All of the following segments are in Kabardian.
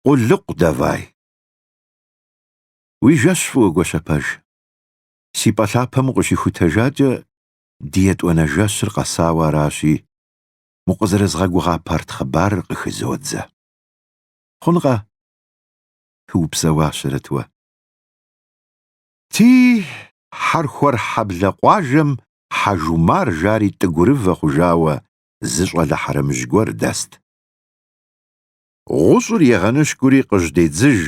Къулыкъу давай. Уи жэщ фӏыуэ гуащэпэж. Си пӏэ лъапэм укъыщихутэжакӏэ, ди етӏуанэ жэщыр къэсауэ аращи, укъызэрызгъэгугъа парт хъыбарыр къыхызодзэ. Хъункъэ? Упсэуащэрэт. Уэ, ди Хьэрхуэр хьэблэ къуажэм Хьэжумар жари тӏыгурывэ хъужауэ зы щӏалэ хьэрэмыжь гуэр дэст. Гъущӏыр егъэныщкӏури къыжьэдедзыж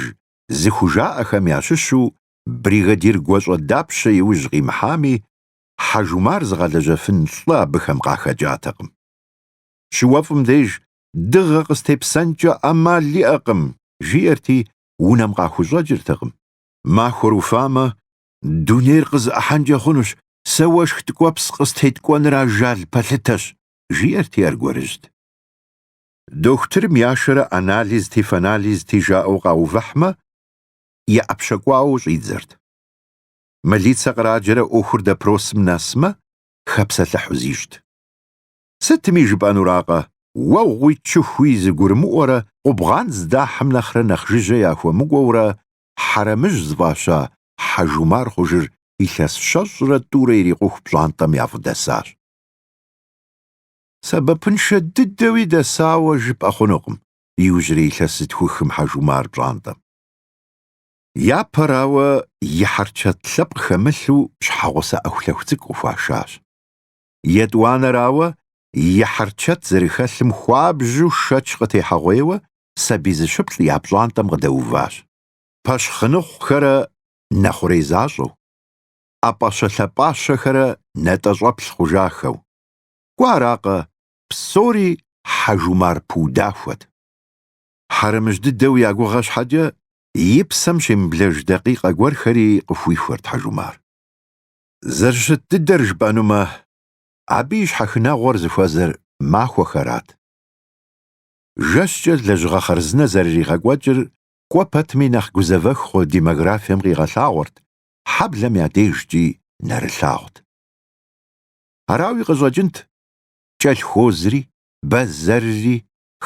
зыхужаӏэхэм ящыщу бригадир гуащӏэ дапщэ и ужь къимыхьами, Хьэжумар зыгъэлэжьэфын лӏы абыхэм къахэкӏатэкъым. Щыуэфӏым деж дыгъэ къыстепсэнкӏэ ӏэмал иӏэкъым, жиӏэрти, унэм къахущӏэкӏыртэкъым. Махуэр уфамэ, дунейр къызэӏыхьэнкӏэ хъунущ, сэ уэшх ткӏуэпс къыстеткӏуэныр ажал пэлъытэщ, жиӏэрти аргуэрыжьт. Дохутырым яшэрэ анализти фанализти жаӏэу къаувыхьмэ, и ӏэпщэ кӏуауэ щӏидзэрт. Мылицэ къраджэрэ ӏуэхур допросым нэсмэ, хэпсэлъыхьу зищӏт. Сытми жыпӏэнуракъэ, уэгъуи чыхуи зыгурымыӏуэрэ къубгъан здахьым нэхърэ нэхъ жыжьэ яхуэмыкӏуэурэ Хьэрэмыжь зыфӏаща Хьэжумар хъужыр илъэс щэщӏрэ тӏурэ ирикъуху пщӏантӏэм яфӏыдэсащ. Сэбэпыншэ дыдэуи дэсауэ жыпӏэ хъунукъым иужьрей илъэс зытхухым Хьэжумар пщӏантӏэм. Япэрауэ, и хьэрчэт лъэпкъ хэмылъу щхьэгъусэ ӏэхулъэху цӏыкӏу къыхуашащ. Етӏуанэрауэ, и хьэрчэт зэрыхэлъым хуабжьу шэч къытехьэгъуейуэ, сабий зыщыплӏ я пщӏантӏэм къыдэуващ. Пэщхъыныхъухэрэ нэхъурей защӏэу, ӏэпӏэщэ-лъэпӏащэхэрэ нэтӏэщӏэплъ хъужахэу, Кӏуэ аракъэ, псори Хьэжумар пыудахуэт. Хьэрэмыжь дыдэу я гугъэ щхьэкӏэ, и псэм щемыблэж дакъикъэ гуэрхэри къыхуихуэрт Хьэжумар. Зэрыщыт дыдэр жыпӏэнумэ, абы и щхьэхынэгъуэр зыхуэзэр махуэхэрат. Жэщкӏэ лэжьыгъэ хъарзынэ зэрыригъэкӏуэкӏыр кӏуэ пэтми нэхъ гузэвэх хъу демографием къигъэлъагъуэрт, хьэблэм я дежкӏи нэрылъагъут. Арауи къыщӏэкӏынт кӏэлъхозри, бэзэрри,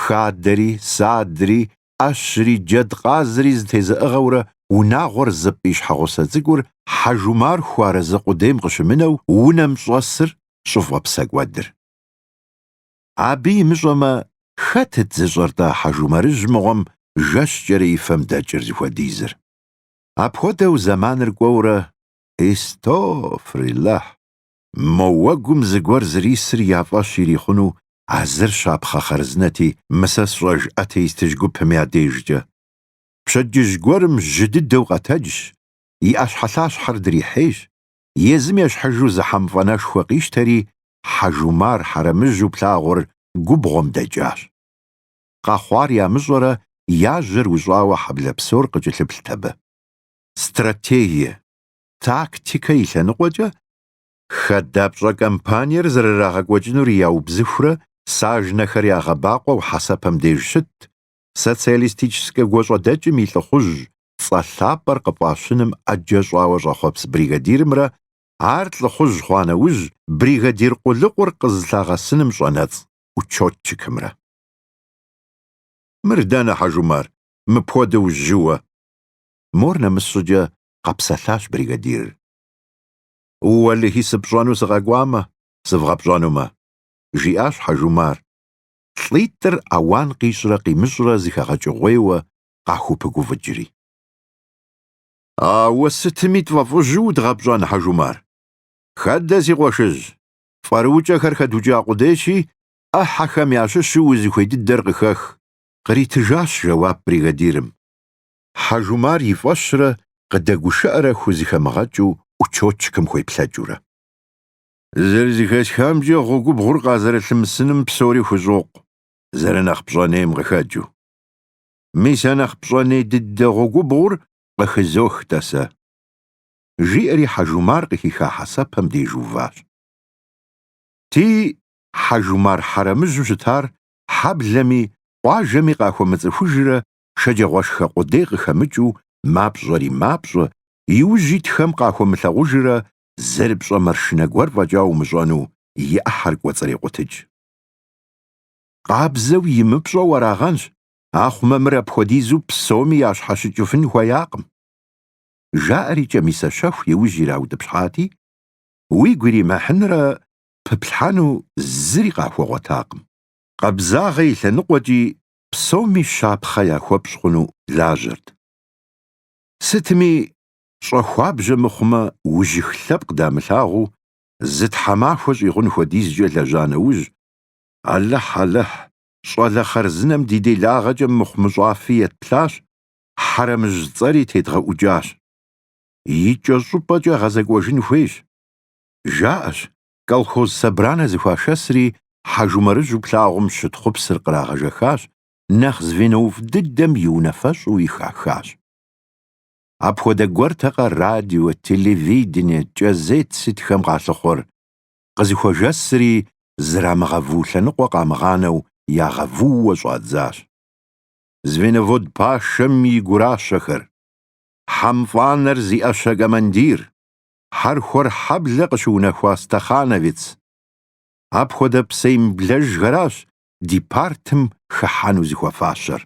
хадэри, садри, ӏэщри, джэдкъазри зэтезыӏыгъэурэ унагъуэр зыпӏ и щхьэгъусэ цӏыкӏур Хьэжумар хуэарэзы къудейм къыщымынэу унэм щӏэсыр щӏыфӏэпсэкӏуэдыр. Абы имыщӏэмэ, хэтыт зыщӏэр-тӏэ Хьэжумарыжь мыгъуэм жэщкӏэрэ и фэм дэкӏыр зыхуэдизыр. Апхуэдэу зэманыр кӏуэурэ, истофрилэхь, Мо уэгум зыгуэр зэрисыр я фӏэщ ирихъуну а зыр щапхъэ хъарзынэти, мы сэ сщӏэж атеистыжь гупым я дежкӏэ. Пщэдджыжь гуэрым жьы дыдэу къэтэджщ, и ӏэщхьэлъащхьэр дрихьейщ, езым ещхьыжу зы хьэмфӏэнэшхуэ къищтэри, Хьэжумар хьэрэмыжьу плъагъур губгъуэм дэкӏащ. Къэхъуар ямыщӏэрэ я жьэр ущӏауэ хьэблэ псор къыкӏылъыплът абы. Стратегие. тактикэ и лъэныкъуэкӏэ хадэпщӏэ кампаниер зэрырагъэкӏуэкӏынур яубзыхурэ сажнэхэр ягъэбакъуэу хьэсэпэм деж щытт, социалистическэ гуащӏэдэкӏым и лӏыхъужь цӏэ лъапӏэр къыфӏащыным ӏэджэ щӏауэ щӏэхъуэпс бригадирымрэ ар лӏыхъужь хъуа нэужь бригадир къулыкъур къызылъагъэсыным щӏэнэцӏ учетчикымрэ. Мыр дэнэ, Хьэжумар, мыпхуэдэу жьыуэ? Мор нэмыс щӏыкӏэ къэпсэлъащ бригадирыр. Уэлэхьи, сыпщӏэну сыкъэкӏуамэ, сывгъэпщӏэнумэ, жиӏащ Хьэжумар, лӏитӏыр ауан къищӏрэ къимыщӏрэ зэхэгъэкӏыгъуейуэ къахупыгуфӏыкӏри. Ауэ сытми тфӏэфӏыжу удгъэпщӏэн, Хьэжумар. Хэдэ, си къуэшыжь, фӏэрыукӏэхэр хэдукӏа къудейщи, ӏыхьэхэм ящыщу узыхуей дыдэр къыхэх, къритыжащ жэуап бригадирым. Хьэжумар и фӏэщрэ къыдэгушыӏэрэ хузэхэмыгъэкӏыу учётчикым хуеплъэкӏыурэ. Зэрызэхэсхамкӏэ гъуэгубгъур къазэрылъымысыным псори хущӏокъу, зэрынэхъ пщӏэнейм къыхэкӏыу. Мис а нэхъ пщӏэней дыдэ гъуэгубгъур къыхызох-тӏэ сэ. Жиӏэри Хьэжумар къыхиха хьэсэпэм деж уващ. Ди Хьэжумар хьэрэмыжьу щытар хьэблэми къуажэми къахуэмыцӏыхужрэ шэджэгъуашхэ къудей къыхэмыкӏыу мапщӏэри мапщӏэ, иужь итхэм къахуэмылъагъужрэ зэрыпщӏэ маршынэ гуэр фӏэкӏа умыщӏэну и ӏыхьэр кӏуэцӏрекъутыкӏ. Къабзэу имыпщӏэу арагъэнщ, ахъумэ мыр апхуэдизу псоми ящхьэщыкӏыфын хуеякъым, жаӏэри кӏэмисэ щэху иужь ираутӏыпщхьати, уигу иримыхьынрэ пыплъхьэну зыри къахуэгъуэтакъым. Къабзагъэ и лъэныкъуэкӏи псоми щапхъэ яхуэпщӏ хъуну лажьэрт. Сытми, щӏэхуабжьэ мыхъумэ, ужьых лъэпкъ дамылъагъуу, зы тхьэмахуэ щӏигъун хуэдизкӏэ лэжьа нэужь, Алыхь, Алыхь, щӏалэ хъарзынэм ди делагъэкӏэ мыхъумыщӏафи етплъащ, Хьэрэмыжь цӏэри тедгъэӏукӏащ. Икӏэщӏыпӏэкӏэ гъэзэкӏуэжын хуейщ, жаӏэщ, Колхоз собранэ зэхуашэсри Хьэжумарыжьу плъагъум щытхъупсыр кърагъэжэхащ, нэхъ звенофӏ дыдэм и унафэщӏу и хахащ. Апхуэдэ гуэртэкъэ радио, телевидение, кӏэзет сытхэм къалъыхъуэр, къызэхуэжэсри зрамыгъэву лъэныкъуэ къамыгъанэу ягъэвууэ щӏадзащ. Звеновод пашэм и гуращэхэр, хьэмфӏанэр зи ӏэщэ командир, Хьэрхуэр хьэблэ къыщыунэхуа стахановец. Апхуэдэ псэемыблэжхэращ ди партым хыхьэну зыхуэфащэр.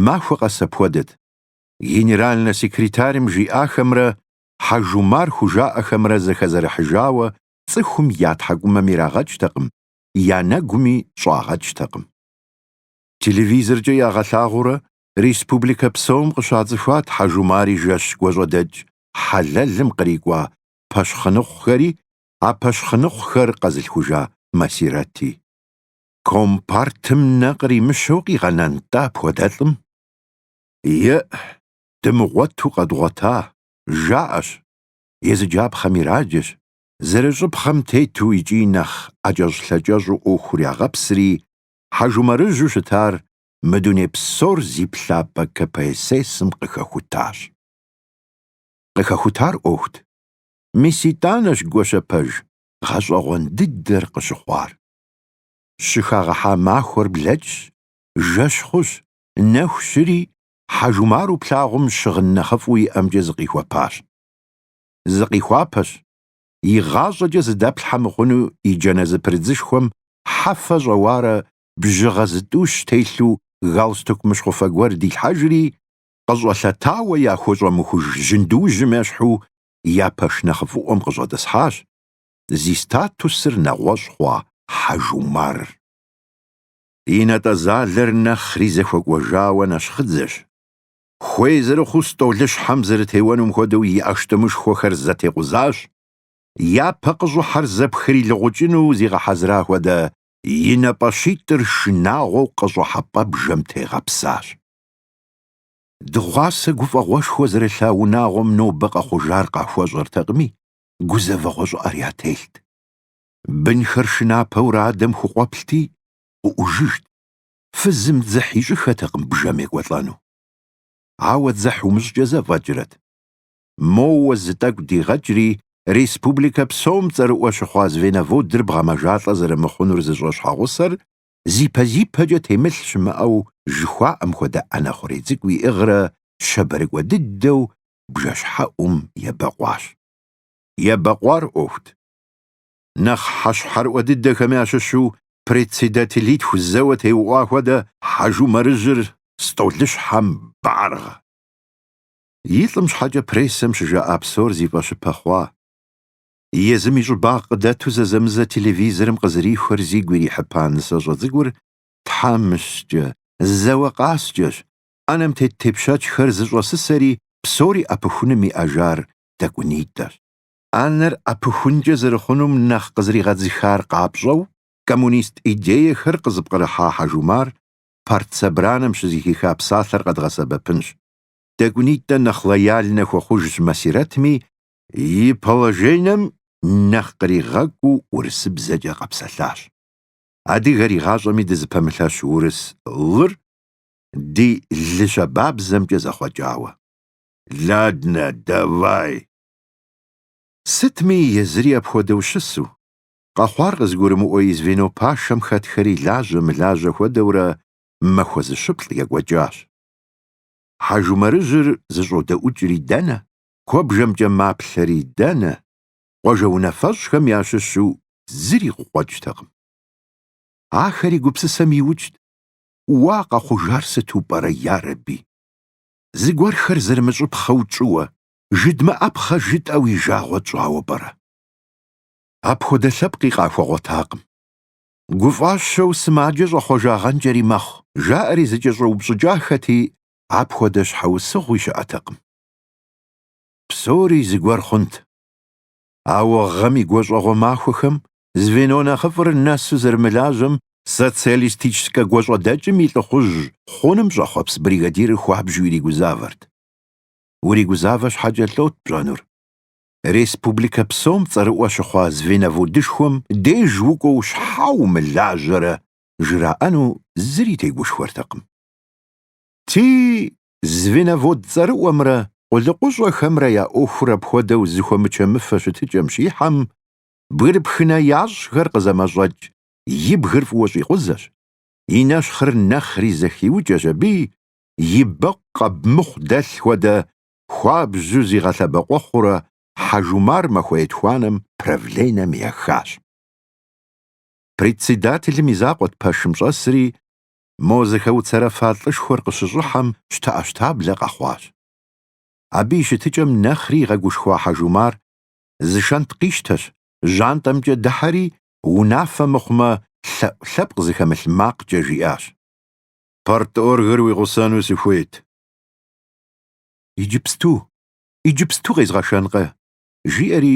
Махуэ къэс апхуэдэт, генеральнэ секретарым жиӏахэмрэ Хьэжумар хужаӏэхэмрэ зэхэзэрыхьыжауэ цӏыхум я тхьэкӏумэм ирагъэкӏтэкъым, я нэгуми щӏагъэкӏтэкъым. Телевизоркӏэ ягъэлъагъуурэ республикэ псом къыщацӏыхуат Хьэжумари жэщ гуащӏэдэкӏ хьэлэлым кърикӏуа пэщхъыныхъухэри а пэщхъыныхъухэр къэзылъхужа Масирэти. Компартым нэ къримыщэу къигъэнэнтӏэ апхуэдэлӏым? Е, дымыгъуэту къэдгъуэта, жаӏэщ, езыджапхъэм ираджэщ, зэрыщӏыпхъэм тету икӏи нэхъ ӏэкӏэщӏ-лъэкӏэщӏу ӏуэхур ягъэпсри, Хьэжумарыжьу щытар мы дуней псор зи плъапӏэ КПСС-м къыхэхутащ. Къыхэхутар ӏуэхут. Мис итӏанэщ гуащэпэж гъэщӏэгъуэн дыдэр къыщыхъуар. Щыхагъэхьа махуэр блэкӏщ, жэщ хъущ, нэху щыри, Хьэжумару плъагъум щыгъын нэхъыфӏу иӏэмкӏэ зыкъихуэпащ. Зыкъихуапэщ, игъащӏэкӏэ зыдэплъхьэ мыхъуну и джанэ зэпрыдзышхуэм хьэфэ щӏэуарэ бжьыгъэ зытӏущ телъу галстук мыщхъуфэ гуэр дилъхьэжри, къыщӏэлъэтауэ яхуэщӏэмыхуж жьындужьым ещхьу я пэш нэхъыфӏыӏуэм къыщӏэтӏысхьащ зи статусыр нэгъуэщӏ хъуа Хьэжумар. И натӏэзалэр нэхъри зэхуэкӏуэжауэ нэщхъыдзэщ. Хуей зэрыхъуу стӏолыщхьэм зэрытеуэнум хуэдэу и ӏэштӏымышхуэхэр зэтекъузащ, япэ къыщӏыхьэр зэпхрилыгъукӏыну зигъэхьэзыра хуэдэ и нэ пӏащитӏыр шынагъуэу къыщӏыхьэпӏэ бжэм тегъэпсащ. Дыгъуасэ гуфӏэгъуэшхуэ зэрылъа унагъуэм нобэ къэхъужар къахуэщӏэртэкъыми, гузэвэгъуэ щӏыӏэр ятелът. Бынхэр шынапэурэ адэм хукъуэплъти, къыӏужыжт, фызым дзыхь ищӏыххэтэкъым бжэм екӏуэлӏэну. Ауэ дзыхь умыщӏкӏэ зэфӏэкӏрэт? моуэ зы тӏэкӏу дигъэкӏри, республикэ псом цӏэрыӏуэ щыхъуа звеноводыр бгъэмэжалӏэ зэрымыхъунур зыщӏэ щхьэгъусэр зипэ-зипэкӏэ темылъ щымыӏэу жыхуаӏэм хуэдэ ӏэнэ хъурей цӏыкӏу иӏыгърэ щабэрыкӏуэ дыдэу бжэщхьэӏум ебэкъуащ. Ебэкъуар ӏуэхут. Нэхъ хьэщхьэрыӏуэ дыдэхэм ящыщу председателитху зэуэ теуӏуа хуэдэ Хьэжумарыжьыр стӏолыщхьэм баргъэ. И лӏым щхьэкӏэ прессэм щыжаӏа псор зи фӏэщыпэ хъуа. Езым и щӏыбагъ къыдэту зэзэмызэ телевизорым къызэрихуэр зигу ирихьыпа нысэщӏэ цӏыкӏур тхьэмыщкӏэ, зэуэ къаскӏэщ, ӏэнэм тет тепщэчхэр зэщӏэсысэри псори ӏэпыхуным иӏэжар тӏэкӏунитӏэщ. ӏэнэр ӏэпыхункӏэ зэрыхъунум нэхъ къызэригъэдзыхар къапщӏэу, коммунист идеехэр къызыпкърыхьа Хьэжумар партсобранэм щызэхиха псалъэр къэдгъэсэбэпынщ. тӏэкӏунитӏэ нэхъ лояльнэ хуэхъужщ Масирэтми, и положенэм нэхъ къригъэкӏуу урысыбзэкӏэ къэпсэлъащ. Адыгэр игъащӏэми дызыпэмылъэщ урыс лыр ди лы щабабзэмкӏэ зэхъуэкӏауэ. Ладнэ, давай! Сытми, езыри апхуэдэу щысу, къэхъуар къызыгурымыӏуэ и звено пашэм хэтхэри лажьэ-мылажьэ хуэдэурэ махуэ зыщыплӏ екӏуэкӏащ. Хьэжумарыжьыр зыщӏодэӏукӏри дэнэ, куэбжэмкӏэ маплъэри дэнэ, къуажэ унафэщӏхэм ящыщу зыри къыкъуэкӏтэкъым. Ахэри гупсысэм иукӏт, Уа къэхъужар сыту пӏэрэ ярэби! Зыгуэрхэр зэрымыщӏыпхъэу тщӏыуэ, жыдмыӏэпхъэ жытӏэу и жагъуэ тщӏауэ пӏэрэ? Апхуэдэ лъэпкъи къахуэгъуэтакъым. Гуфӏащэу сымаджэ щӏэхъуэжагъэнкӏэри мэхъу, жаӏэри зыкӏэщӏэупщӏыкӏахэти, апхуэдэ щхьэусыгъуи щыӏэтэкъым. Псори зыгуэр хъунт. Ауэ гъэм и гуащӏэгъуэ махуэхэм звено нэхъыфӏыр нэсу зэрымылажьэм социалистическэ гуащӏэдэкӏым и лӏыхъужь хъуным щӏэхъуэпс бригадирыр хуабжыу иригузавэрт. Уригузавэ щхьэкӏэ лӏот пщӏэнур. республикэ псом цӏэрыӏуэ щыхъуа звеноводышхуэм деж укӏуэу щхьэ умылажьэрэ жраӏэну зыри тегушхуэртэкъым. Ти звеновод цӏэрыӏуэмрэ къулыкъущӏэхэмрэ я ӏуэхур апхуэдэу зыхуэмычэмыфэ щытыкӏэм щихьэм, бгырыпхынэ ящӏхэр къызэмэщӏэкӏ и бгыр фӏыуэ щӏикъузэщ, и нэщхъыр нэхъри зэхиукӏэщ аби, и бэкъу къэб мыхъу дэлъ хуэдэ хуабжьу зигъэлъэбэкъуэхъурэ Хьэжумар махуэ етхуанэм правленэм ехащ. Председателым и закъуэт пэшым щӏэсри, мо зэхэуцэрэфа лӏышхуэр къыщыщӏыхьэм щтэӏэщтаблэ къэхъуащ. Абы и щытыкӏэм нэхъри игъэгушхуа Хьэжумар зы шэнт къищтэщ, жьантӏэмкӏэ дыхьэри, унафэ мыхъумэ, лъэӏу лъэпкъ зыхэмылъ макъкӏэ жиӏащ. Парторгыр уи гъусэну сыхуейт. Иджыпсту, иджыпсту къезгъэшэнкъэ? жиӏэри,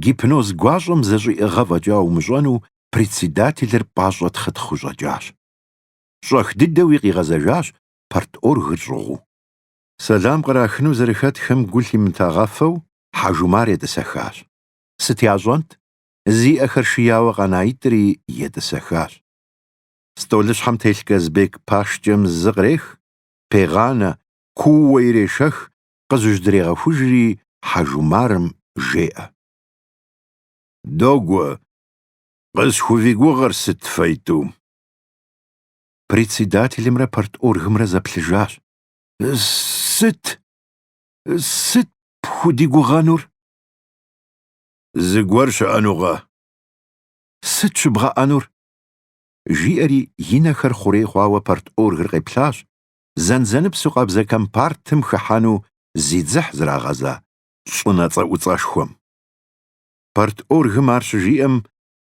гипноз гуащӏэм зэщӏиӏыгъэ фӏэкӏа умыщӏэну председателыр пӏащӏэ тхъытхъыу щӏэкӏащ. Щӏэх дыдэуи къигъэзэжащ парторгыр щӏыгъуу. Сэлам кърахыну зэрыхэтхэм гу лъимытагъэфэу Хьэжумар етӏысэхащ. Сыт ящӏэнт? Зи ӏэхэр шияуэ къэнаитӏри етӏысэхащ. Столыщхьэм телъ Казбек пашкӏэм зы кърех, пегъанэ, кууэ ирешэх, къызыжьдрегъэхужри Хьэжумарым жеӏэ. Догуэ, къысхувигугъэр сыт фэитӏу? Председателымрэ парторгымрэ зэплъыжащ. Сыт? Сыт пхудигугъэнур? Зыгуэр щыӏэнукъэ? Сыт щыбгъэӏэнур? Жиӏэри и нэхэр хъурей хъуауэ парторгыр къеплъащ, зэнзэныпсу къабзэ компартым хыхьэну зи дзыхь зрагъэза щӏынэ цӏэӏуцӏэшхуэм. Парторгым ар щыжиӏэм,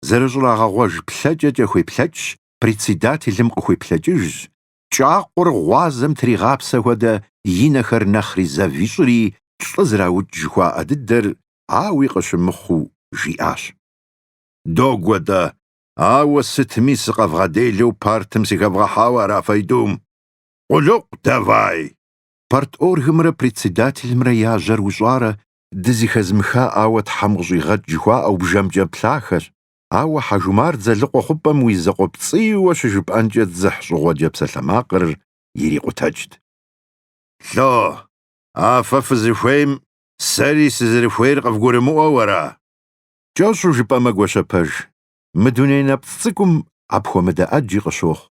зэрыщӏрагъэгъуэж плъэкӏэкӏэ хуеплъэкӏщ, председателым къыхуеплъэкӏыжщ, кӏакхъур гъуазэм тригъапсэ хуэдэ и нэхэр нэхъри зэв ищӏри лӏы зраукӏ жыхуаӏэ дыдэр ауи къыщымыхъуу жиӏащ. Догуэ-тӏэ, ауэ сытми сыкъэвгъэделэу партым сыхэвгъэхьауэ ара фэитӏум? Къулыкъу давай! Парторгымрэ председателымрэ я жьэр ущӏарэ дызыхэзмыха ауэ Тхьэм къыщӏигъэкӏ жыхуаӏэу бжэмкӏэ плъахэщ, ауэ Хьэжумар Дзэлыкъуэ хъупӏэм уи закъуэпцӏийуэ щыжыпӏэнкӏэ дзыхь щӏыгъуэджэ псалъэмакъыр ирикъутэкӏт. Ло, а фэ фызыхуейм сэри сызэрыхуейр къывгурымыӏуэу ара? Кӏэщӏу жыпӏэмэ, Гуащэпэж, мы дуней нэпцӏ цӏыкӏум апхуэмыдэ ӏэджи къыщохъу.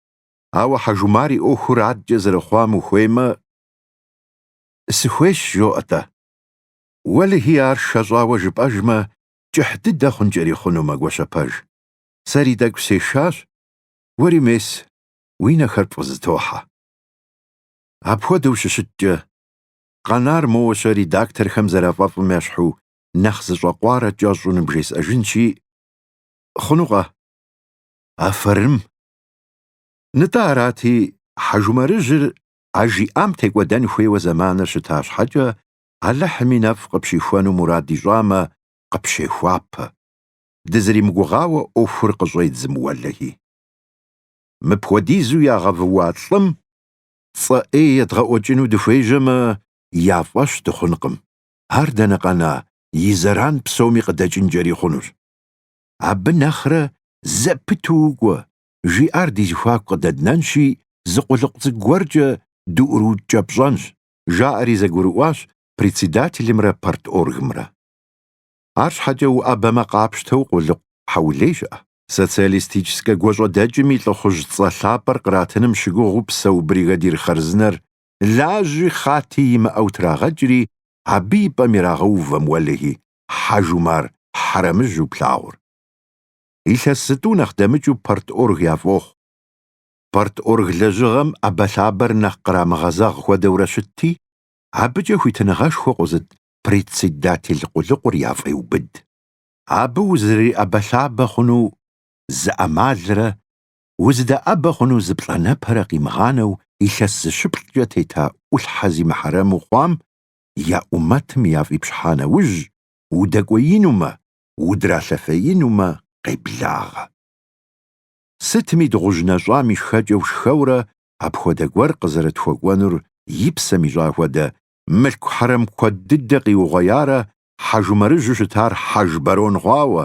Ауэ Хьэжумар и ӏуэхур адкӏэ зэрыхъуам ухуеймэ, сыхуейщ, жоӏэ-тӏэ. Уэлэхьи, ар шэщӏауэ жыпӏэжмэ, кӏыхь дыдэ хъункӏэри хъунумэ, Гуащэпэж. Сэри тӏэкӏу сешащ, уэри мес уи нэхэр пфӏызытохьэ. Апхуэдэу щыщыткӏэ, къэнар моуэ-щэ редакторхэм зэрафӏэфӏым ещхьу нэхъ зыщӏэкъуарэ кӏэщӏу ныбжесӏэжынщи, хъунукъэ? Афэрым! Нтӏэ арати, Хьэжумарыжьыр а жиӏам текӏуэдэн хуейуэ зэманыр щыта щхьэкӏэ, Алыхьым и нэфӏ къыпщихуэну мурад ищӏамэ, къыпщехуапэ, дызэримыгугъауэ ӏуэхур къыщӏедзым уэлэхьи. Мыпхуэдизу ягъэвууа лӏым цӏэ ӏей едгъэӏуэкӏыну дыхуежьэмэ, я фӏэщ дыхъункъым. ар дэнэ къэна и зэран псоми къыдэкӏынкӏэри хъунущ. Абы нэхърэ зэпыту укӏуэ жиӏар ди зэхуаку къыдэднэнщи, зы къулыкъу цӏыкӏу гуэркӏэ дыӏурыукӏэпщӏэнщ, жаӏэри зэгурыӏуащ председателымрэ парторгымрэ. Арщхьэкӏэ уӏэбэмэ къапщтэу къулыкъу хьэулей щыӏэ. Социалистическэ гуащӏэдэкӏым и лӏыхъужь цӏэ лъапӏэр къратыным щыгугъыу псэу бригадир хъарзынэр лажьи хъати имыӏэу трагъэкӏри, абы и пӏэм ирагъэувэм уэлэхьи, Хьэжумар хьэрэмыжьу плъагъур. Илъэс зытӏу нэхъ дэмыкӏыу парторг яфӏохъу. Парторг лэжьыгъэм ӏэбэлъабэр нэхъ кърамыгъэзэгъ хуэдэурэ щытти, абыкӏэ хуитыныгъэшхуэ къозыт председатель къулыкъур яфӏеубыд. Абы узыриӏэбэлъабэ хъуну зы ӏэмалрэ узыдэӏэбэ хъуну зы плӏанэпэрэ къимыгъанэу илъэс зыщыплӏкӏэ тета ӏулъхьэ зи мыхьэрэму хъуам я ӏумэтым яфӏипщхьа нэужь, удэкӏуеинумэ, удралъэфеинумэ къеблагъэ. Сытми дыгъужь нэщӏам и шхэкӏэу шхэурэ апхуэдэ гуэр къызэрытхуэкӏуэнур и псэм ищӏа хуэдэ, мылъку хьэрэм куэд дыдэ къиугъуеярэ Хьэжумарыжьу щытар хьэж барон хъуауэ,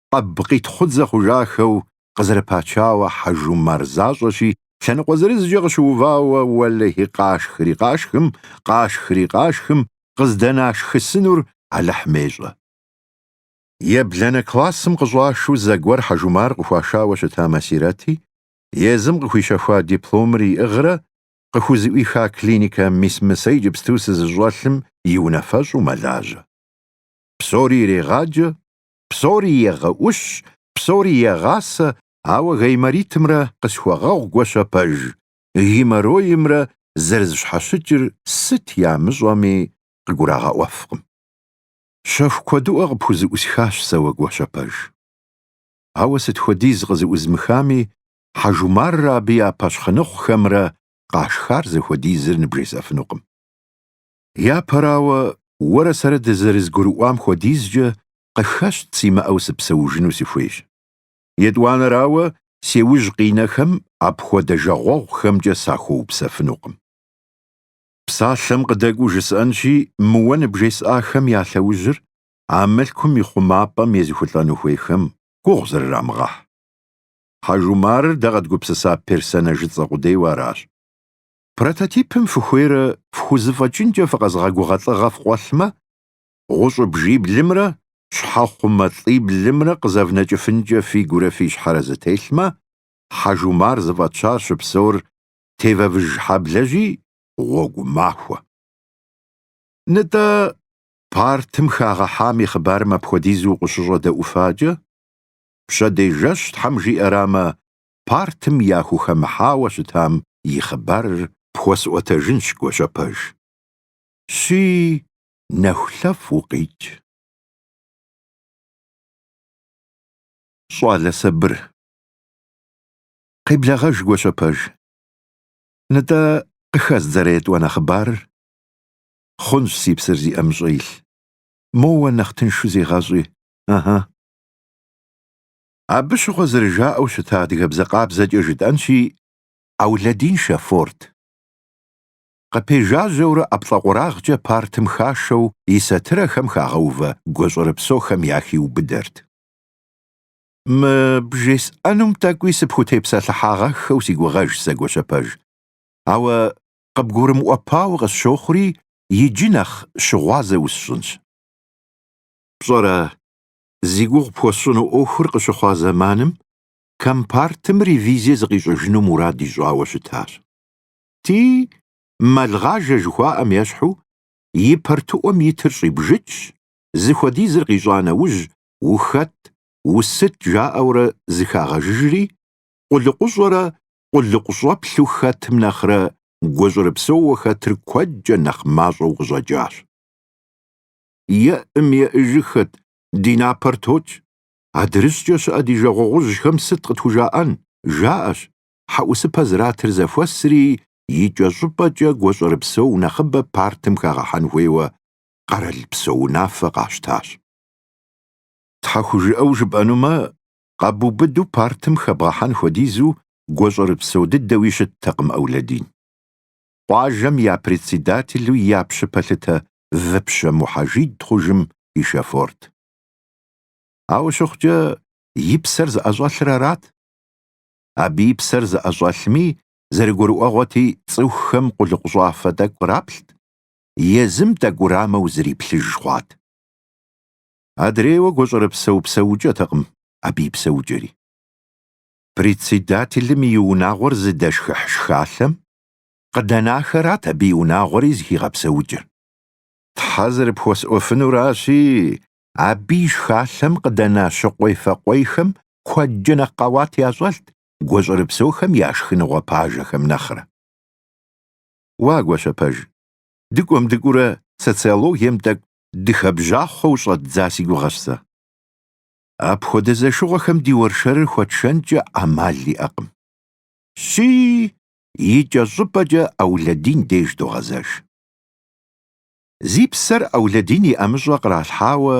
къэб къитхъу дзэ хъужахэу къызэрыпачауэ Хьэжумар защӏэщи, лъэныкъуэ зырызкӏэ къыщыувауэ уэлэхьи къашхри къашхым, къашхри къашхым, къыздынашхысынур Алыхьым ещӏэ. Ебланэ классым къыщӏашу зэгуэр Хьэжумар къыхуашауэ щыта Масирэти, езым къыхуищэхуа дипломыр иӏыгърэ, къыхузэӏуиха клиникэ мис мы сэ иджыпсту сызыщӏэлъым и унафэщӏу мэлажьэ. Псори ирегъаджэ, Псори егъэӏущ, псори егъасэ, ауэ гайморитымрэ къысхуэгъэгъу Гуащэпэж, геморроимрэ зэрызэщхьэщыкӏыр сыт ямыщӏэми къыгурагъэӏуэфкъым. Щэху куэдыӏуэ къыпхузэӏусхащ сэ уэ Гуащэпэж. Ауэ сыт хуэдиз къызэӏузмыхами, Хьэжумаррэ абы я пэщхъыныхъухэмрэ къашхар зыхуэдизыр ныбжесӏэфынукъым. Япэрауэ, уэрэ сэрэ дызэрызгурыӏуам хуэдизкӏэ къыхэщт симыӏэу сыпсэужыну сыхуейщ. Етӏуанэрауэ, си ужь къинэхэм апхуэдэ жагъуэгъухэмкӏэ сахуэупсэфынукъым. Псалъэм къыдэкӏуэу жысӏэнщи, мы уэ ныбжесӏахэм я лъэужьыр а мылъкум и хъумапӏэм езыхулӏэну хуейхэм гугъу зрырамыгъэхь. Хьэжумарыр дэ къэдгупсыса персонажыцӏэ къудейуэ аращ. Прототипым фыхуейрэ фхузэфӏэкӏынкӏэ фыкъэзыгъэгугъэ лӏыгъэ фкъуэлъмэ, гъущӏ бжиблымрэ щхьэхъумэ лӏиблымрэ къызэвнэкӏыфынкӏэ фи гурэ фи щхьэрэ зэтелъмэ, Хьэжумар зыфӏэтщар щыпсэур тевэвыж хьэблэжьи, гъуэгу махуэ. Нытӏэ, партым хагъэхьам и хъыбарым апхуэдизу укъыщыщӏэдэӏуфакӏэ, пщэдей жэщ Тхьэм жиӏэрамэ, партым яхухэмыхьауэ щытам и хъыбарыр пхуэсӏуэтэжынщ Гуащэпэж. Щи, нэхулъэфӏ укъикӏ. Щӏалэ сабыр. Къеблэгъэж Гуащэпэж. Нытӏэ, къыхэздзэрэ етӏуанэ хъыбарыр? Хъунщ, си псэр зи ӏэмыщӏэ илъ. Моуэ нэхъ тыншу зегъэщӏи, ыхьы. Абы щыгъуэ зэрыжаӏэу щыта адыгэбзэ къабзэкӏэ жытӏэнщи, Аулэдин шафорт. Къыпежажьэурэ ӏэплӏэкъуэрагъкӏэ партым хашэу и сатырэхэм хагъэувэ гуащӏэрыпсэухэм яхиубыдэрт. Мы бжесӏэнум тӏэкӏуи сыпхутепсэлъыхьагъэххэу си гугъэжщ сэ Гуащэпэж, ауэ къыбгурымыӏуэпауэ къысщохъури, иджы нэхъ щыгъуазэ усщӏынщ. Пщӏэрэ, зи гугъу пхуэсщӏыну ӏуэхур къыщыхъуа зэманым компартым ревизие зыкъищӏыжыну мурад ищӏауэ щытащ. Ти Мэлгъажэ жыхуаӏэм ещхьу и партыӏуэм итыр щӏибжыкӏщ, зыхуэдизыр къищӏа нэужь ухэт, усыт жаӏэурэ зэхагъэжыжри, къулыкъущӏэрэ къулыкъущӏэплъу хэтым нэхърэ гуащӏэрыпсэууэ хэтыр куэдкӏэ нэхъ мащӏэу къыщӏэкӏащ. еӏым еӏыжыхэт, ди напэр токӏ. Адрыщӏкӏэ щыӏэ ди жагъуэгъужьхэм сыт къытхужаӏэн? Жаӏэщ, хьэӏусыпэ зратыр зэхуэсри, икӏэщӏыпӏэкӏэ гуащӏэрыпсэу нэхъыбэ партым хагъэхьэн хуейуэ къэралпсо унафэ къащтащ. Тхьэхужыӏэу жыпӏэнумэ, къэбубыду партым хэбгъэхьэн хуэдизу гуащӏэрыпсэу дыдэуи щыттэкъым Аулэдин. Къуажэм я председателу я пщы пэлъытэ Выпщэ Мухьэжид хъужым и шофёрт. Ауэ щыхъукӏэ, и псэр зыӏэщӏэлъыр арат. Абы и псэр зыӏэщӏэлъми, зэрыгурыӏуэгъуэти, цӏыхухэм къулыкъущӏафэ тӏэкӏу къраплът, езым тӏэкӏу урамэу зриплъыж хъуат. Адрейуэ гуащӏэрыпсэу псэукӏэтэкъым абы и псэукӏэри. Председателым и унагъуэр зыдэшхыхь шхалъэм Къыдэнахэрат абы и унагъуэри зыхигъэпсэукӏыр. Тхьэ зэрыпхуэсӏуэфынуращи, абы и шхалъэм къыдэна щыкъуей-фэкъуейхэм куэдкӏэ нэхъ къэуат ящӏэлът гуащӏэрыпсэухэм я шхыныгъуэ пажэхэм нэхърэ. Уа Гуащэпэж, дыкӏуэм дыкӏуурэ социологием тӏэкӏу дыхэбжьахъуэу щӏэддза си гугъэщ сэ. Апхуэдэ зэшыгъуэхэм ди уэршэрыр хуэтшэнкӏэ ӏэмал иӏэкъым. Щи, икӏэщӏыпӏэкӏэ Аулэдин деж догъэзэж. Зи псэр Аулэдин и ӏэмыщӏэ къралъхьауэ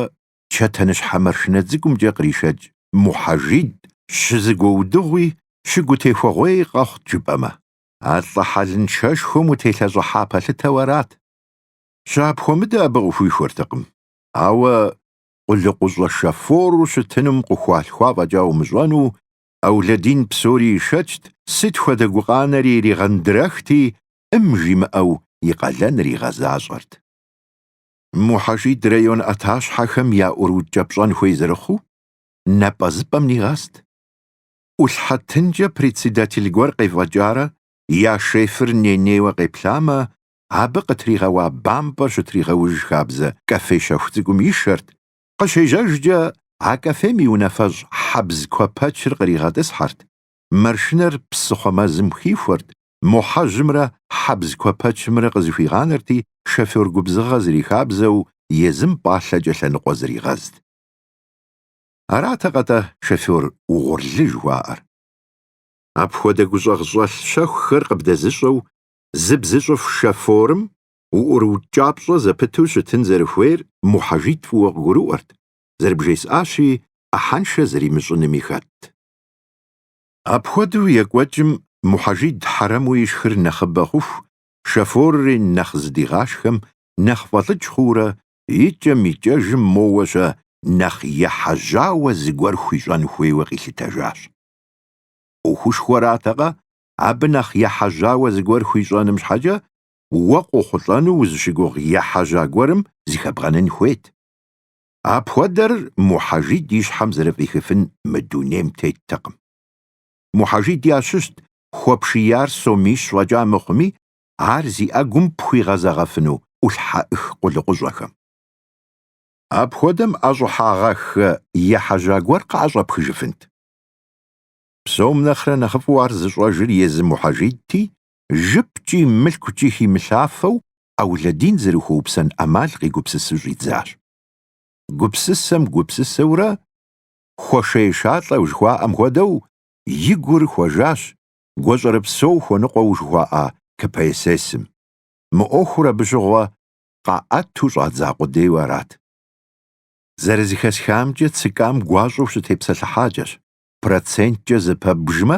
чэтэныщхьэ маршынэ цӏыкӏумкӏэ къришэкӏ Мухьэжид щызыгуэудыгъуи щыгутехуэгъуей къэхъут жыпӏэмэ, а лӏы хьэлыншэшхуэм утелъэщӏыхьа пэлъытэу арат. Щыапхуэмыдэ абы къыхуихуэртэкъым, ауэ къулыкъущӏэ шофору щытынум къыхуалъхуа фӏэкӏа умыщӏэну Аулэдин псори ишэчт, сыт хуэдэ гукъанэри иригъэндрэхти, ӏым жимыӏэу и къалэныр игъэзащӏэрт. Мухьэжид район ӏэтащхьэхэм яӏурыукӏэпщӏэн хуей зэрыхъуу, напӏэзыпӏэм нигъэст. ӏулъхьэ тынкӏэ председатель гуэр къефӏэкӏарэ я шефыр ней-нейуэ къеплъамэ, абы къытригъэуа бампӏэр щытригъэуж хабзэ кафе щэху цӏыкӏум ишэрт, Къыщежьэжкӏэ, а кафем и унафэщӏ Хьэбз Куэпэчыр къригъэтӏысхьэрт, маршынэр псыхъуэ мэзым хихуэрт, Мухьэжьымрэ Хьэбз Куэпэчымрэ къызэхуигъанэрти, шофер губзыгъэ зэрихабзэу езым пӏалъэкӏэ лъэныкъуэ зригъэзт. Аратэкъэ-тӏэ шофер угъурлы жыхуаӏэр? Апхуэдэ гущӏэгъщӏэлъ щэхухэр къыбдэзыщӏэу зыбзыщӏыф шоферым уӏурыукӏапщӏэ зэпыту щытын зэрыхуейр Мухьэжид фӏыуэ къыгурыӏуэрт, зэрыбжесӏащи, ӏыхьэншэ зэримыщӏынми хэтт. Апхуэдэу екӏуэкӏым Мухьэжид хьэрэму ишхыр нэхъыбэ хъуху, шофорри нэхъ зыдигъашхэм, нэхъ фӏэлӏыкӏ хъуурэ, икӏэм-икӏэжым моуэ-щэ нэхъ ехьэжьауэ зыгуэр хуищӏэн хуейуэ къилъытэжащ. ӏуэхушхуэратэкъэ, абы нэхъ ехьэжьауэ зыгуэр хуищӏэным щхьэкӏэ уэ къохъулӏэну узыщыгугъ ехьэжьа гуэрым зыхэбгъэнын хуейт. Апхуэдэр Мухьэжид и щхьэм зэрыфӏихыфын мы дунейм теттэкъым. Мухьэжид ящыщт хуэпшияр сомищ фӏэкӏа мыхъуми, ар зи ӏэгум пхуигъэзэгъэфыну ӏулъхьэӏых къулыкъущӏэхэм. Апхуэдэм ӏэщӏыхьагъэххэ ехьэжьа гуэр къыӏэщӏэпхыжыфынт. Псом нэхърэ нэхъыфӏу ар зыщӏэжыр езы Мухьэжидти, жыпкӏи мылъкукӏи химылъафэу Аулэдин зэрыхуэупсэн ӏэмал къигупсысу щӏидзащ. Гупсысэм гупсысэурэ, хуэшей-шалӏэу жыхуаӏэм хуэдэу, и гур хуэжащ гуащӏэрыпсэу хуэныкъуэу жыхуаӏа КПСС-м. Мы ӏуэхур абы щыгъуэ къаӏэту щӏадза къудейуэ арат. Зэрызыхэсхамкӏэ, ЦК-м гуащӏэу щытепсэлъыхьакӏэщ, проценткӏэ зэпэбжмэ,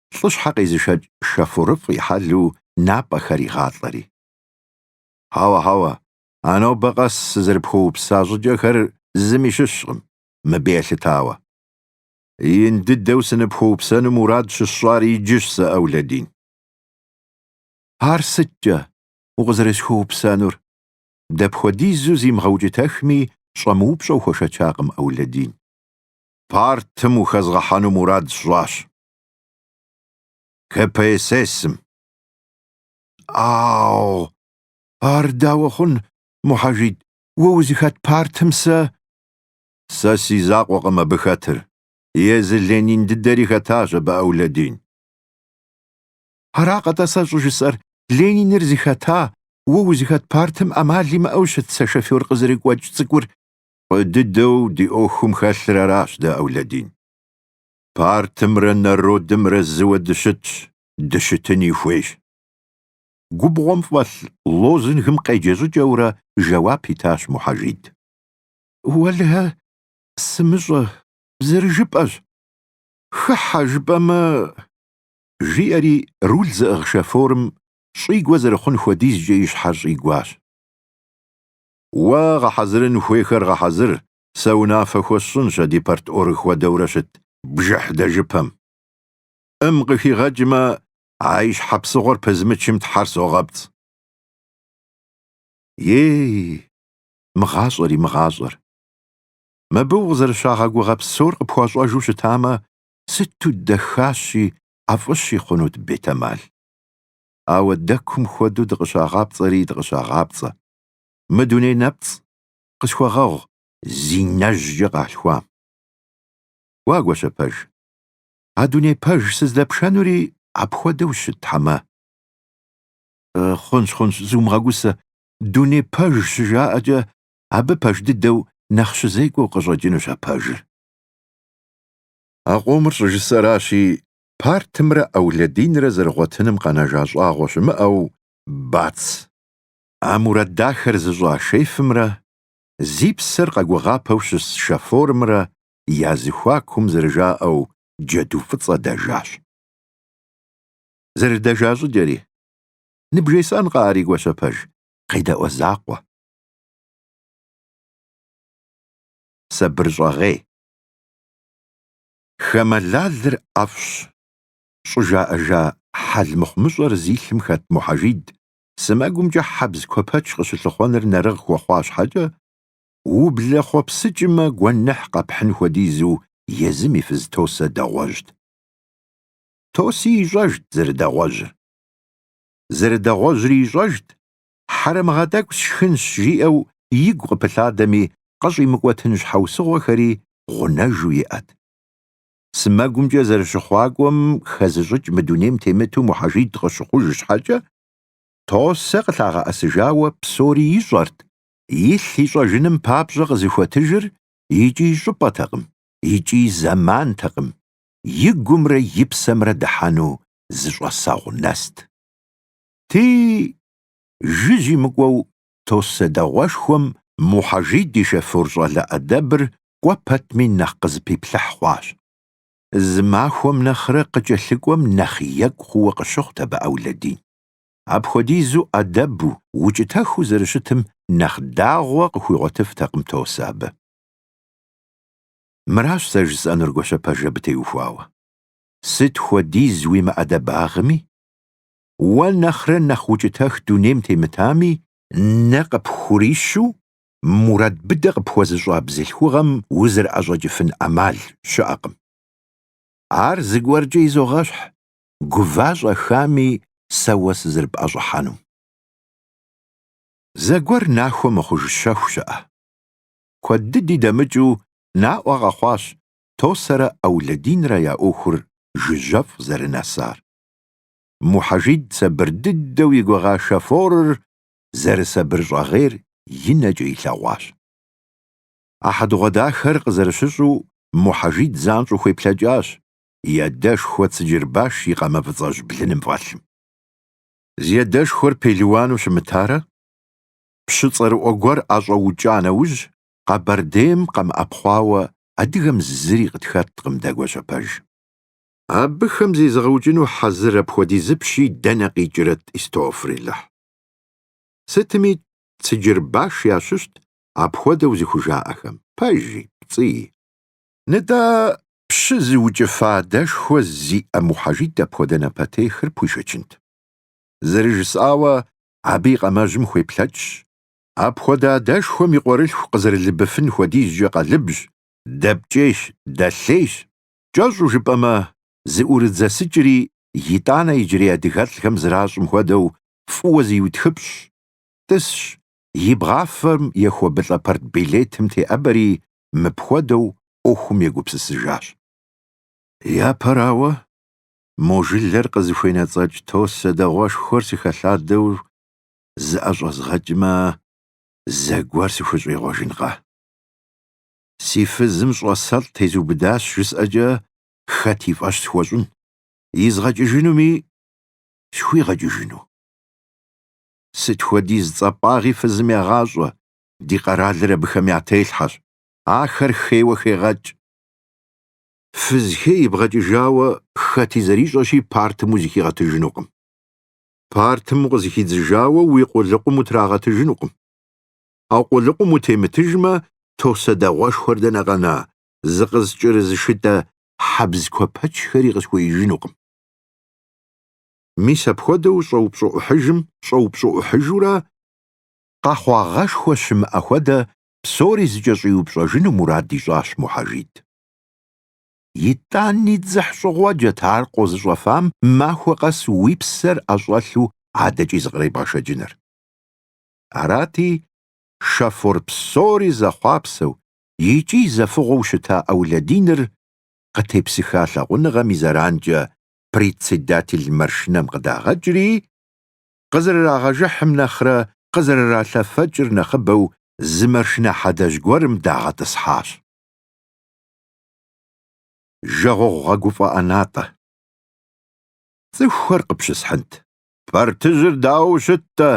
лӏыщхьэ къезышэкӏ шофёрыфӏ и хьэлу напӏэхэр игъалӏэри. Хьэуэ, хьэуэ, а нобэ къэс сызэрыпхуэупса щӏыкӏэхэр зыми щыщкъым, мыбы елъытауэ. Ин дыдэу сыныпхуэупсэну мурад щысщӏар иджыщ сэ, Аулэдин. Ар сыткӏэ, укъызэрысхуэупсэнур? дапхуэдизу зимыгъэукӏытэхми, щӏэмыупщӏэу хуэшэчакъым Аулэдин. Партым ухэзгъэхьэну мурад сщӏащ, КПСС-м. Ау, ар дауэ хъун, Мухьэжид, уэ узыхэт партым сэ? Сэ си закъуэкъым абы хэтыр, езы Ленин дыдэри хэтащ абы Аулэдин. Аракъэ-тӏэ сэ щӏыжысӏэр, Лениныр зыхэта, уэ узыхэт партым ӏэмал имыӏэу щыт сэ шофёр къызэрыгуэкӏ цӏыкӏур? Фӏы дыдэу ди ӏуэхум хэлъыр аращ дэ, Аулэдин. партымрэ народымрэ зыуэ дыщытщ, дыщытыни хуейщ. Губгъуэм фӏэлъ лозунгым къеджэ щӏыкӏэурэ жэуап итащ Мухьэжид. Уэлэхьэ, сымыщӏэ, зэрыжыпӏэщ. Хыхьэ жыпӏэмэ, жиӏэри руль зыӏыгъ шофёрым щӏигуэ зэрыхъун хуэдизкӏэ и щхьэр щӏигуащ. Уэ гъэхьэзырын хуейхэр гъэхьэзыр, Сэ унафэ хуэсщӏынщ а ди парторг хуэдэурэ щыт бжыхь дэжыпэм. ӏым къыхигъэкӏмэ, а и щхьэ псыгъуэр пызмычым тхьэр согъэпцӏ. Ей, мы гъащӏэри мы гъащӏэр. Мыбы укъызэрыщагъэгугъэ псор къыпхуащӏэжу щытамэ, сыту дахащи, ӏэфӏыщи хъунут, бетэмал. Ауэ дэкум хуэдэу дыкъыщагъапцӏэри дыкъыщагъапцӏэ. Мы дуней нэпцӏ, къысхуэгъэгъу зи нэжькӏэ къалъхуам. Уа, Гуащэпэж. А дуней пэж сыздэпшэнури апхуэдэу щытхьэмэ. Хъунщ, хъунщ, зумыгъэгусэ, дуней пэж щыжаӏэкӏэ абы пэж дыдэу нэхъ щызекӏуэу къыщӏэкӏынущ а пэжыр. А къомыр щӏыжысэращи, партымрэ Аулэдинрэ зэрыгъуэтыным къэнэжа щӏагъуэ щымыӏэу, бац! А мурад дахэр зыщӏа шефымрэ зи псэр къэгугъапэу щыс шофёрымрэ я зэхуакум зэрыжаӏэу джэду фӏыцӏэ дэжащ. Зэрыдэжа щӏыкӏэри, ныбжесӏэнкъэ ари Гуащэпэж, къедэӏуэ закъуэ. Сабырщӏэгъей. Хамэ лалыр ӏэфӏщ, щӏыжаӏэжа хьэл мыхъумыщӏэр зи лъым хэт Мухьэжид сэмэгумкӏэ хьэбз куэпэч къыщылъыхъуэныр нэрыгъ хуэхъуа щхьэкӏэ, ублэхъуэпсыкӏмэ гуэныхь къэпхьын хуэдизу езым и фыз Тосэ дэгъуэжьт. Тоси ищӏэжт зэрыдэгъуэжьыр. Зэрыдэгъуэжьри ищӏэжт, хьэрэмыгъэ тӏэкӏу сшхынщ жиӏэу игу къыпылъадэми къыщӏимыкӏуэтын щхьэусыгъуэхэри гъунэжу иӏэт. сымэгумкӏэ зэрыщыхъуакӏуэм хэзыщӏыкӏ мы дунейм темыту Мухьэжид къыщыхъуж щхьэкӏэ, Тосэ къылъагъэӏэсыжауэ псори ищӏэрт, илъ ищӏэжыным папщӏэ къызыхуэтыжыр икӏи щӏыпӏэтэкъым, икӏи зэмантэкъым, и гумрэ и псэмрэ дыхьэну зы щӏэсэгъу нэст. Ти жыжьи мыкӏуэу Тосэ дэгъуэшхуэм Мухьэжид и шэфур щӏалэ ӏэдэбыр кӏуэ пэтми нэхъ къызэпиплъыхь хъуащ. Зы махуэм нэхърэ къыкӏэлъыкӏуэм нэхъ екӏу хъууэ къыщыхъут абы Аулэдин. Апхуэдизу ӏэдэбу, укӏытэхыу зэрыщытым нэхъ дагъуэ къыхуигъуэтыфтэкъым Тосэ абы. Мыращ сэ жысӏэнур Гуащэпэж, абы теухуауэ. Сыт хуэдиз уи мыӏэдэбагъми? уэ нэхърэ нэхъ укӏытэх дунейм темытами, нэ къыпхурищу мурад быдэ къыпхуэзыщӏа бзылъхугъэм узэрыӏэщӏэкӏыфын ӏэмал щыӏэкъым. Ар зыгуэркӏэ изогъэщхь, гува-щӏэхами сэ уэ сызэрыпӏэщӏыхьэнум. Зэгуэр нахуэ мыхъуж щэху щыӏэ. Куэд дыди дэмыкӏыу наӏуэ къэхъуащ Тосэрэ Аулэдинрэ я ӏуэхур жыжьэфӏ зэрынэсар. Мухьэжид сабыр дыдэу и гугъа шофёрыр зэрысабырщӏэгъейр и нэкӏэ илъэгъуащ. А хьэдэгъуэдахэр къызэрыщыщӏу Мухьэжид занщӏэу хуеплъэкӏащ и адэшхуэ Цыджырбаш и къамэ фӏыцӏэжь блыным фӏэлъым. Зи адэшхуэр пелуану щымытарэ, пщы цӏэрыӏуэ гуэр ӏэщӏэукӏа нэужь, Къэбэрдейм къэмыӏэпхъуауэ адыгэм зыри къытхэткъым дэгуэщэпэж. Абыхэм зезыгъэукӏыну хьэзыр апхуэдиз пщи дэнэ къикӏрэт, истофрилэхь. Сытми, Цыджырбаш ящыщт апхуэдэу зыхужаӏэхэм, пэжи, пцӏыи. Нтӏэ, пщы зыукӏыфа адэшхуэ зиӏэ Мухьэжид апхуэдэ напэтехыр пхуишэчынт. Зэрыжысӏауэ, абы и къамэжьым хуеплъэкӏщ, апхуэдэ адэшхуэм и къуэрылъху къызэрылыбыфын хуэдизкӏэ къалыбжь, дэпкӏейщ, дэлъейщ, Кӏэщӏу жыпӏэмэ, зыӏурыдзэсыкӏри итӏанэ иджырей адыгэлӏхэм зэращӏым хуэдэу фӏыуэ зиутхыпщӏщ, тӏысщ, и бгъафэм ехуэбылӏэ партбилетым теӏэбэри мыпхуэдэу ӏуэхум егупсысыжащ. Япэрауэ, мо жылэр къызыхуенэцӏэкӏ Тосэ дэгъуэшхуэр сыхэлъадэу зыӏэщӏэзгъэкӏмэ, зэгуэр сыхущӏегъуэжынкъэ? Си фызым щӏасэлӏ тезыубыдащ жысӏэкӏэ хэт и фӏэщ схуэщӏын? Изгъэкӏыжынуми схуигъэкӏыжыну? Сыт хуэдиз цӏапӏагъи фызым ягъащӏэ, ди къэралыр абыхэм я телъхьэщ, ахэр хейуэ хегъэкӏ. Фыз хей ибгъэкӏыжауэ хэти зэрищӏэщи партым узыхигъэтыжынукъым. Партым укъызыхидзыжауэ уи къулыкъум утрагъэтыжынукъым. А къулыкъум утемытыжмэ, Тосэ дэгъуэшхуэр дэнэ къэна, зыкъызкӏэрызышытӏэ хьэбз куэпэчхэри къысхуеижынукъым. Мис апхуэдэу щӏэупщӏэӏухьыжым, щӏэупщӏэӏухьыжурэ, къэхъуагъэшхуэ щымыӏэ хуэдэ псори зыкӏэщӏиупщӏэжыну мурад ищӏащ Мухьэжид. Итӏани дзыхь щӏыгъуэджэт ар къозыщӏэфам махуэ къэс уи псэр ӏэщӏэлъу адэкӏи зыкъребгъэшэкӏыныр. Арати, шофёр псори зэхъуапсэу икӏи зэфыгъуэу щыта Ауладиныр къытепсыха лъагъуныгъэм и зэранкӏэ председатель маршынэм къыдагъэкӏри, къызэрырагъэжыхьым нэхърэ къызэрыралъэфэкӏыр нэхъыбэу зы маршынэ хьэдэжь гуэрым дагъэтӏысхьащ. Жагъуэгъу гъэгуфӏэ ӏэнатӏэ. Цӏыхухэр къыпщысхьынт. Партыжьыр дауэ щыт-тӏэ?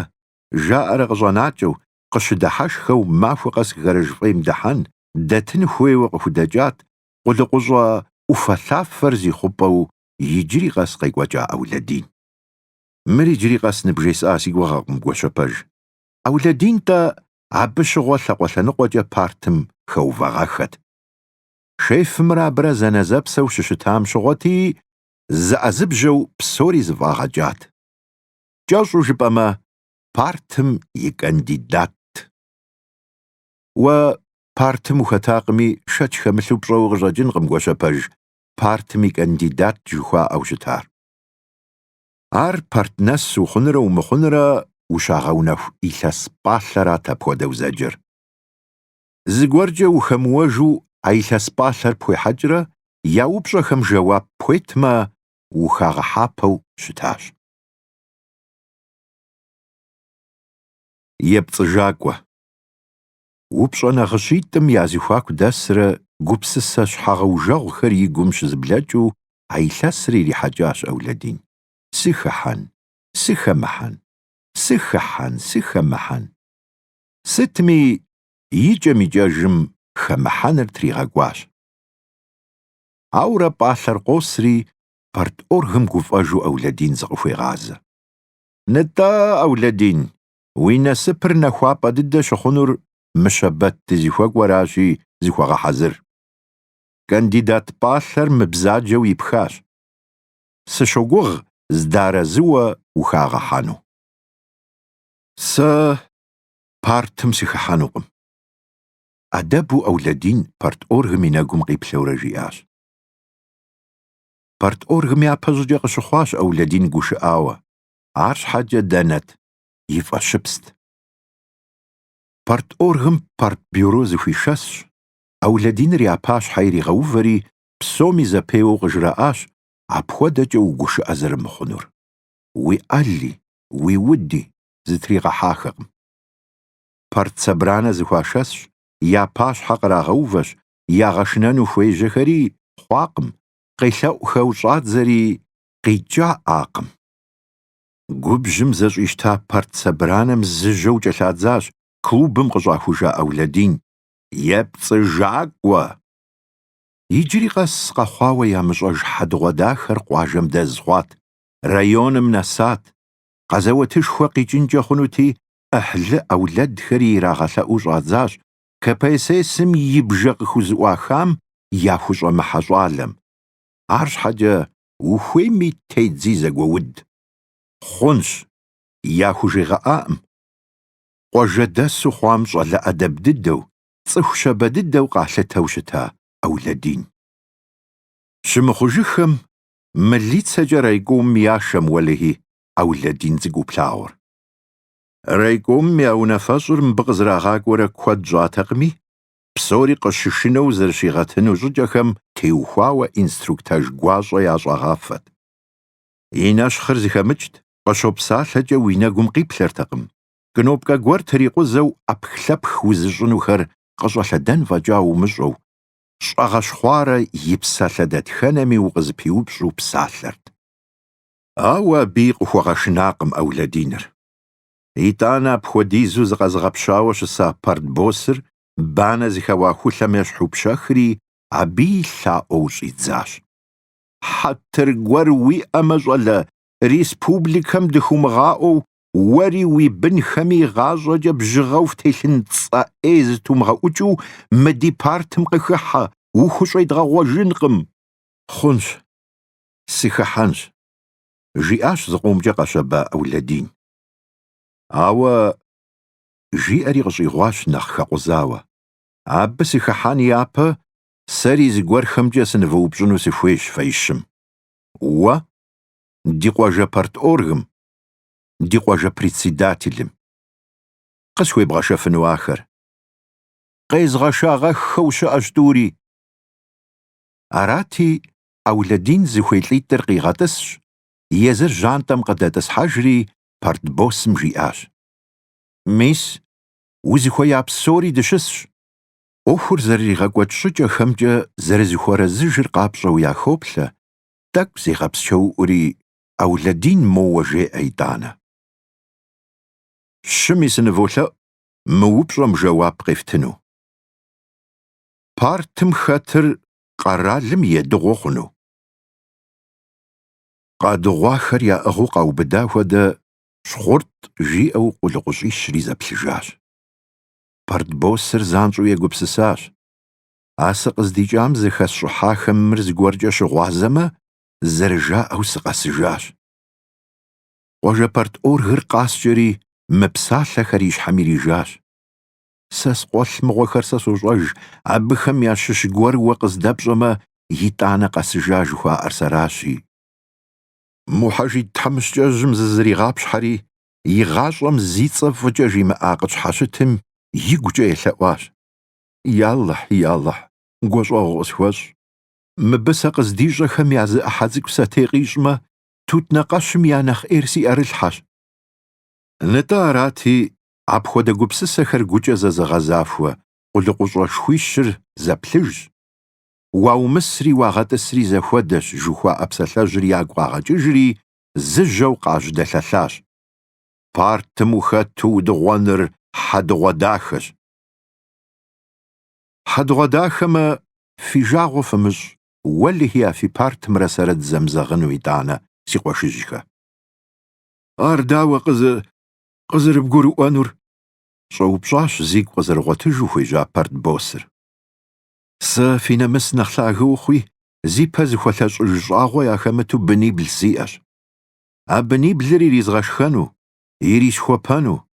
жаӏэрэ къыщӏэнакӏэу, къыщыдыхьэшхэу махуэ къэс гараж фӏейм дыхьэн, дэтын хуейуэ къыхудэкӏат, къулыкъущӏэ ӏуфэлъафэр зи хъупӏэу иджыри къэс къекӏуэкӏа Аулэдин. Мыр иджыри къэс ныбжесӏа си гугъэкъым, Гуащэпэж. Аулэдин-тӏэ абы щыгъуэ лъакъуэ лъэныкъуэкӏэ партым хэувагъэххэт. Шефымрэ абырэ зэнэзэпсэу щыщытам щыгъуэти, зыӏэзыбжьэу псори зыфӏагъэкӏат. Кӏэщӏу жыпӏэмэ, партым и кандидатт. Уэ партым ухэтакъыми, шэч хэмылъу пщӏэу къыщӏэкӏынкъым Гуащэпэж партым и кандидат жыхуаӏэу щытар. Ар парт нэс ухъунрэ умыхъунрэ ущагъэунэху илъэс пӏалъэрат апхуэдэу зэджэр. Зыгуэркӏэ ухэмыуэжу а илъэс пӏалъэр пхуехьэкӏрэ я упщӏэхэм жэуап пхуетмэ, ухагъэхьапэу щытащ. Епцӏыжакӏуэ. Упщӏэ нагъыщитӏым я зэхуаку дэсрэ гупсысэ щхьэгъэужэгъухэр и гум щызэблэкӏыу а илъэсыр ирихьэкӏащ Аулэдин. Сыхыхьэн, сыхэмыхьэн, сыхыхьэн, сыхэмыхьэн. Сытми, икӏэм-икӏэжым хэмыхьэныр тригъэкӏуащ. Ауэрэ пӏалъэр къосри, парторгым гуфӏэжу Аулэдин зыкъыхуегъазэ. Нытӏэ, Аулэдин, уи насыпыр нэхуапӏэ дыдэ щыхъунур мы щэбэт дызыхуэкӏуэращи, зыхуэгъэхьэзыр. Кандидат пӏалъэр мыбзаджэу ипхащ. Сыщогугъ зэдэарэзыуэ ухагъэхьэну. Сэ партым сыхыхьэнукъым. Ӏэдэбу Аулэдин парторгым и нэгум къиплъэурэ жиӏащ. Парторгым япэщӏыкӏэ къыщыхъуащ Аулэдин гушыӏауэ, арщхьэкӏэ дэнэт, и фӏэщыпст. Парторгым партбюро зэхуишэсщ, Аулэдиныр я пащхьэ иригъэувэри, псоми зэпеуэу къыжраӏащ апхуэдэкӏэ угушыӏэ зэрымыхъунур. Уи ӏэли, уи уди, зытригъэхьахэкъым. Партсобранэ зэхуашэсщ, я пащхьэ кърагъэувэщ, ягъэшынэну хуежьэхэри хъуакъым, къелъэӏухэу щӏадзэри къикӏаӏакъым. Губжьым зэщӏищта партсобранэм зыжьэу кӏэлъадзащ клубым къыщӏахужа Аулэдин. Епцӏыжакӏуэ! Иджыри къэс къэхъуауэ ямыщӏэж хьэдэгъуэдахэр къуажэм дэз хъуат, районым нэсат, къэзэуэтышхуэ къикӏынкӏэ хъунути, ӏыхьлы ӏэулэдхэри ирагъэлъэӏуу щӏадзащ КПСС-м и бжэ къыхузыӏуахам яхущӏэмыхьэ щӏалэм. Арщхьэкӏэ ухуейми тедзи зэгуэуд. Хъунщ, яхужегъэӏакъым. Къуажэдэсу хъуам щӏалэ ӏэдэб дыдэу, цӏыху щабэ дыдэу къалъытэу щыта Аулэдин. Щымыхъужыххэм мылицэкӏэ райкомым яшэ, уэлэхьи, Аулэдин цӏыкӏуу плъагъур. Райкомым я унафэщӏыр мыбы къызэрагъакӏуэрэ куэд щӏатэкъыми, псори къыщышынэу зэрыщигъэтыну щӏыкӏэхэм теухуауэ инструктаж гуащӏэ ящӏагъафэт. И нэщхъыр зыхэмыкӏт, къыщопсалъэкӏэ уи нэгум къиплъэртэкъым, кнопкэ гуэр трикъузэу ӏэпхлъэпх узыщӏынухэр къыщӏэлъэдэн фӏэкӏа умыщӏэу, щӏэгъэщхъуарэ и псалъэ дэтхэнэми укъызыпиупщӏу псалъэрт. Ауэ абыи къыхуэгъэшынакъым Аулэдиныр. Итӏанэ апхуэдизу зыкъэзыгъэпщауэ щыса партбоссыр банэ зыхэуа хулъэм ещхьу пщэхри, абыи лъаӏуэу щӏидзащ. Хьэтыр гуэр уиӏэмэ, щӏалэ, республикэм дыхыумыгъаӏуэу уэри уи бынхэми игъащӏэкӏэ бжьыгъэу фтелъын цӏэ ӏей зытумыгъэӏукӏыу мы ди партым къыхыхьэ, ухущӏедгъэгъуэжынкъым. Хъунщ, сыхыхьэнщ, жиӏащ зыкъомкӏэ къэщэба Аулэдин. Ауэ, жиӏэри къыщӏигъуащ нэхъ хэкъузауэ, абы сыхыхьэн япэ сэри зыгуэрхэмкӏэ сынывэупщӏыну сыхуейщ фэищым. Уэ, ди къуажэ парторгым, ди къуажэ председателым. Къысхуебгъэшэфыну ахэр. Къезгъэшагъэххэу щыӏэщ тӏури. Арати, Аулэдин зыхуей лӏитӏыр къигъэтӏысщ, езыр жьантӏэм къыдэтӏысхьэжри, партбоссым жиӏащ. Мис, узыхуея псори дыщысщ. ӏуэхур зэрыригъэкӏуэкӏ щӏыкӏэхэмкӏэ зэрызыхуэрэзыжыр къапщӏэу яхоплъэ, тӏэкӏу зегъэпсчэуӏури Аулэдин моуэ жеӏэ итӏанэ. Щыми сыныволъэӏу мы упщӏэм жэуап къефтыну. Партым хэтыр къэралым едыгъуэ хъуну? Къадыгъуахэр яӏыгъыу къаубыда хуэдэ щхъурт жиӏэу къулыкъущӏищри зэплъыжащ. Партбоссыр занщӏэу егупсысащ, А сыкъыздикӏам зыхэсщӏыхьахэм мыр зыгуэркӏэ щыгъуазэмэ, зэрыжаӏэу сыкъэсыжащ. Къуажэ парторгыр къаскӏэри, мы псалъэхэр и щхьэм ирижащ. Сэ скъуэлъ мыгъуэхэр сэ сощӏэж, абыхэм ящыщ гуэр уэ къыздэпщӏэмэ, итӏанэ къэсыжа жыхуаӏэр сэращи. Мухьэжид тхьэмыщкӏэжьым зызэригъэпщхьэри, и гъащӏэм зи цӏэ фӏыкӏэ жимыӏа къытщхьэщытым, игукӏэ елъэӏуащ. Ялыхь, ялыхь, гущӏэгъу къысхуэщӏ. Мыбы сэ къыздищӏэхэм я зы ӏыхьэ цӏыкӏу сэтей къищӏмэ, тутнакъэщым я нэхъ ӏейр си ӏэрылъхьэщ. Нтӏэ арати, апхуэдэ гупсысэхэр гукӏэ зэзыгъэзахуэ къулыкъущӏэшхуищыр зэплъыжщ. Уаумысри уагъэтӏысри зэхуэдэщ, жыхуаӏэ псалъэжьыр ягу къагъэкӏыжри, зыжьэу къажьэдэлъэлъащ. Партым ухэту удыгъуэныр хьэдэгъуэдахэщ. Хьэдэгъуэдахэмэ, Фи жагъуэ фымыщӏ, уэлэхьи а фи партымрэ сэрэ дызэмызэгъыну итӏанэ, си къуэшыжьхэ. Ар дауэ къызы, къызэрыбгурыӏуэнур? щӏэупщӏащ зигу къызэрыгъуэтыжу хуежьа партбоссыр. Сэ фи нэмыс нэхъ лъагэ ухъуи, зи пэ зыхуэлъэщӏыж щӏагъуэ яхэмыту бынибл сиӏэщ. А быниблыр иризгъэшхэну, ирисхуэпэну,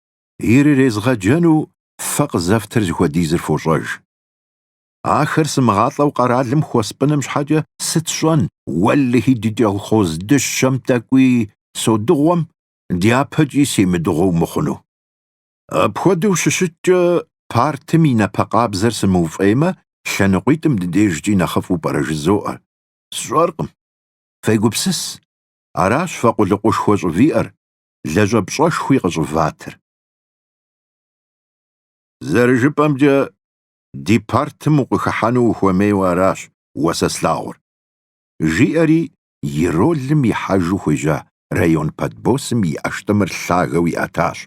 ирырезгъэджэну фэ къызэфтыр зыхуэдизыр фощӏэж. Ахэр сымыгъалӏэу къэралым хуэспӏыным щхьэкӏэ сыт сщӏэн? Уэлэхьи, ди кӏэлхъоз дыщэм тӏэкӏуи содыгъуэм, дяпэкӏи семыдыгъуэу мыхъуну. Апхуэдэу щыщыткӏэ, партым и напэ къабзэр сымыуфӏеймэ, лъэныкъуитӏым ди дежкӏи нэхъыфӏу пӏэрэ жызоӏэ? Сщӏэркъым. Фегупсыс, аращ фэ къулыкъушхуэ щӏывиӏэр, лэжьапщӏэшхуи къыщӏыватыр. Зэрыжыпӏэмкӏэ, ди партым укъыхыхьэну ухуэмейуэ аращ уэ сэ слъагъур, жиӏэри и ролым ихьэжу хуежьа район партбоссым и ӏэштӏымыр лъагэу иӏэтащ.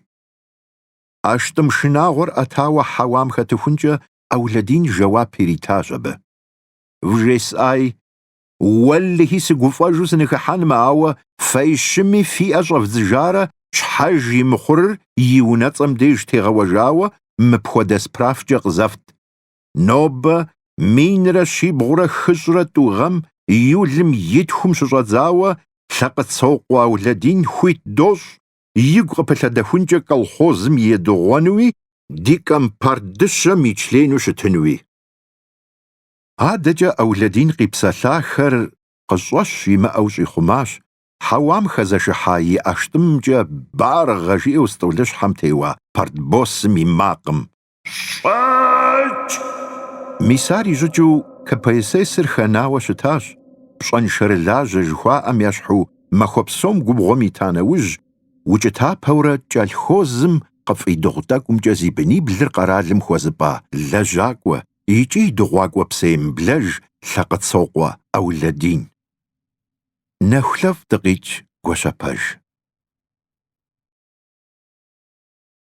ӏэштӏым шынагъуэр ӏэтауэ хьэуам хэтыхункӏэ Аулэдин жэуап иритащ абы. Вжесӏаи, Уэллэхьи, сыгуфӏэжу сыныхыхьэнмэ, ауэ фэ щыми фи ӏэ щӏэвдзыжарэ щхьэж и мыхъурыр и унэцӏэм деж тегъэуэжауэ мыпхуэдэ справкӏэ къызэфт. Нобэ минрэ щибгъурэ хыщӏрэ тӏу гъэм июлым и тхум щыщӏэдзауэ Лъэкъыцокъуэ Аулэдин хуит дощӏ игу къыпылъэдэхункӏэ колхозым едыгъуэнуи ди компарт дыщэм и члену щытынуи. Адэкӏэ Аулэдин къипсэлъахэр къыщӏэщ имыӏэу щӏихъумащ, хьэуам хэзэшыхьа и ӏэштӏымымкӏэ баргъэ жиӏэу стӏолыщхьэм теуа партбосым и макъым. Щӏэкӏ! Мис ар и щӏыкӏэу КПСС-р хэнауэ щытащ, пщӏэншэрылажьэ жыхуаӏэм ещхьу махуэ псом губгъуэм ита нэужь, укӏытапэурэ кӏэлъхозым къыфӏидыгъу тӏэкӏумкӏэ зи быниблыр къэралым хуэзыпӏа лэжьакӏуэ, икӏи и дыгъуакӏуэ псэемыблэж Лъакъыцокъуэ Аулэдин. Нэхулъэфӏ дыкъикӏ Гуащэпэж.